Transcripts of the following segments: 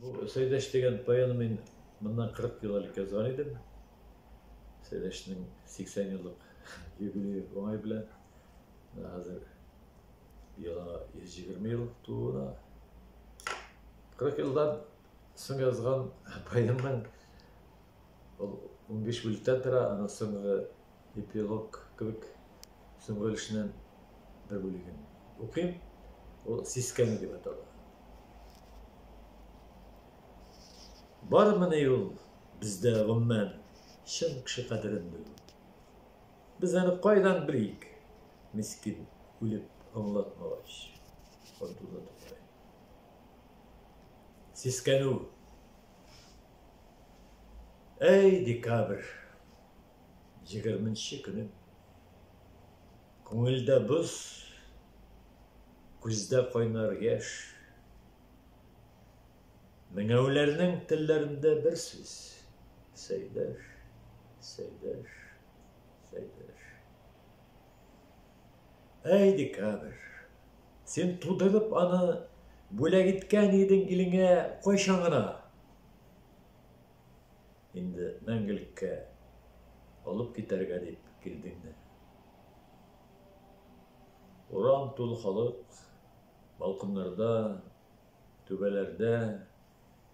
Бу Сәйдәш дигән поэны мин моннан 40 ел элек язган идем. Сәйдәшнең 80 еллык юбилее уңай белән. Менә хәзер яңа 120 ел тууына. 40 елдан соң язган поэмның Ул унбиш бүлектән тора, аның соңгы эпилог кебек соңгы өлешеннән бер бүлеген укыйм. Ул сискәнү дип атала. Бармыни ул бездә гомумән чын кеше кадерен белү? Без аны кайдан белик? Мискин үлеп аңлатмагач. Абдулла Тукай. Сискәнү Әй, декабрь егерменче көне. Күңелдә боз, күздә кайнар яшь. Меңәүләрнең телләрендә бер сүз. Сәйдәш, сәйдәш, сәйдәш. Әй, декабрь, син тудырып аны бүләк иткән идең илеңә кайчан гына? Инде мәңгелеккә алып китәргә дип килдеңме? Урам тулы халык, балконнарда, түбәләрдә,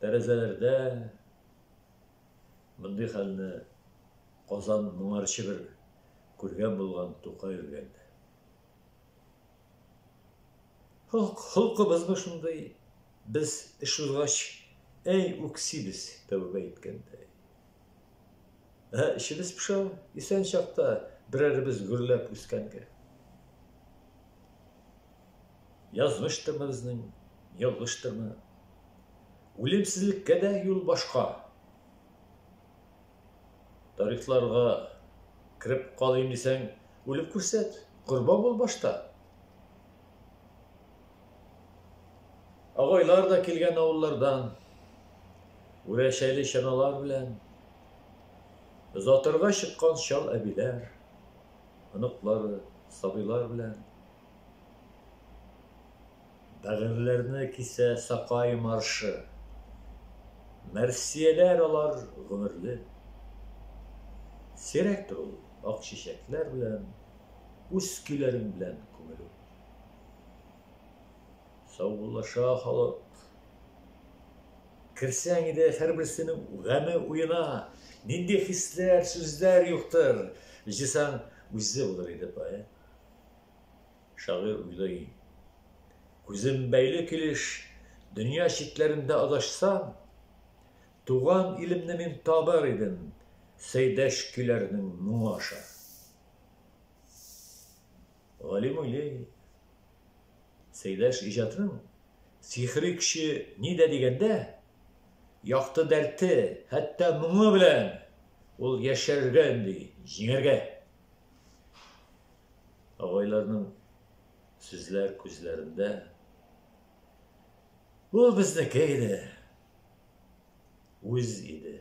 тәрәзәләрдә Мондый хәлне Казан моңарчы бер күргән булган Тукай үлгәндә. Холкыбызмы шундый, без эш узгач, әй үксибез тәүбә иткәндәй. Ә эчебез пыша, исән чакта берәребез гөрләп үскәнгә. Язмыштырмы безнең, ялгыштырмы? Үлемсезлеккә дә юл башка. Тарихларга кереп калыйм дисәң, үлеп күрсәт, корбан бул башта. Агайлар да килгән авыллардан, үрәчәле чаналар белән, озатырга чыккан чал әбиләр, оныклары, сабыйлар белән. Бәгырьләрне кисә Сакай маршы. Мәрсияләр алар гомерле. Сирәктер ул ак чәчәкләр белән Үз көйләрең белән күмелү. Саубуллаша халык. Керсәң иде һәрберсенең гаме уена, Нинди хисләр, сүзләр юктыр, Җыйсаң, үзе булыр иде поэт. Шагыйрь уйлый. Күзем бәйле килеш дөнья читләрендә адашсам, туган илемне мин табар идем Сәйдәш көйләренең моңы аша. Галим уйлый. Сәйдәш иҗатының сихри көче нидә дигәндә, якты дәрте, хәтта моңы белән ул яшәргә өнди, җиңәргә. Агайларның сүзләр күзләрендә. Ул безнеке иде. Үз иде.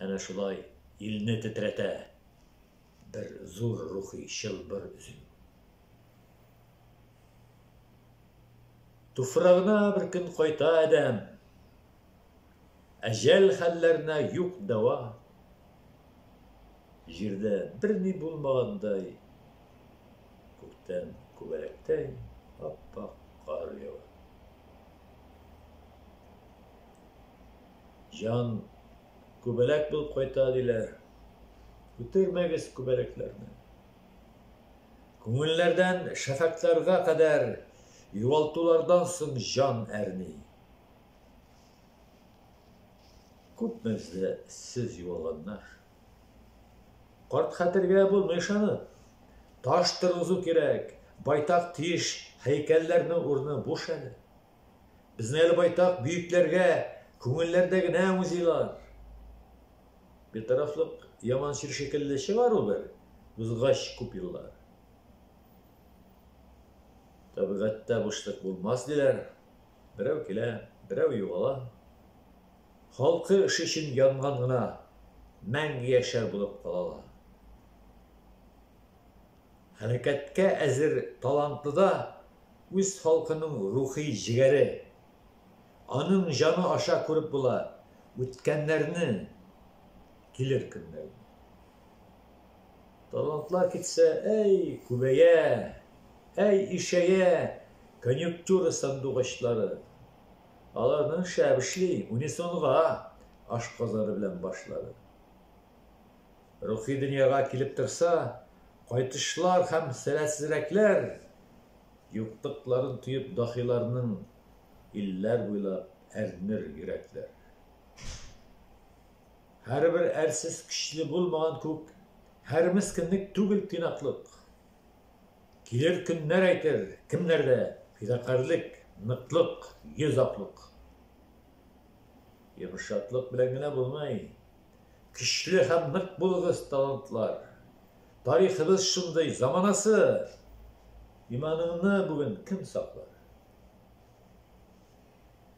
Әнә шулай илне тетрәтә бер зур рухи чылбыр өзелү. Туфрагына бер көн кайта адәм. Ә җәл хәлләренә юк дәва. Җирдә берни булмагандай, күктән күбәләктәй ап-ак кар ява. Җан күбәләк булып кайта, диләр. Күтәрмәгез күбәләкләрне. Күңелләрдән шәфәкъләргә кадәр югалтулардан соң җан әрни. Күп мәзле сез юалганнар. Карт хәтергә булмый ышанып. Таш торгызу кирәк. Байтак тиеш, һәйкәлләрнең урыны буш әле. Безнең әле байтак бөекләргә күңелләрдә генә музейлар. Битарафлык яман чир шикелле чыгар ул бер, узгач күп еллар. Табигатьтә бушлык булмас диләр, Берәү килә, берәү югала. Халкы эше өчен янган гына мәңге яшәр булып калалар. Хәрәкәткә әзер талантлы да үз халкының рухи җегәре. Аның җаны аша күреп була үткәннәрне, килер көннәрне. Талантлар китсә, әй, күбәя, әй, ишәя конъюнктура сандугачлары. Аларның шәп эшли, унисонга ашказаны белән башлары. Рухи дөньяга килеп торса, кайтышлар һәм сәләтсезрәкләр, юктыкларын тоеп дахиларның, илләр буйлап әрнер йөрәкләр. Һәрбер әрсез көчле булмаган күк, Һәр мескенлек түгел тыйнаклык. Килер көннәр әйтер, кемнәрдә Фидакарьлек, ныклык, йөз аклык. Йомшаклык белән генә булмый. Көчле һәм нык булыгыз, талантлар. Тарихыбыз шундый, заманасы! Иманыңны бүген кем саклар?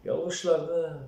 Ялгышларны,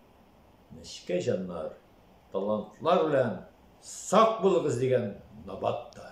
Нечкә җаннар, талантлар белән сак булыгыз дигән набат та.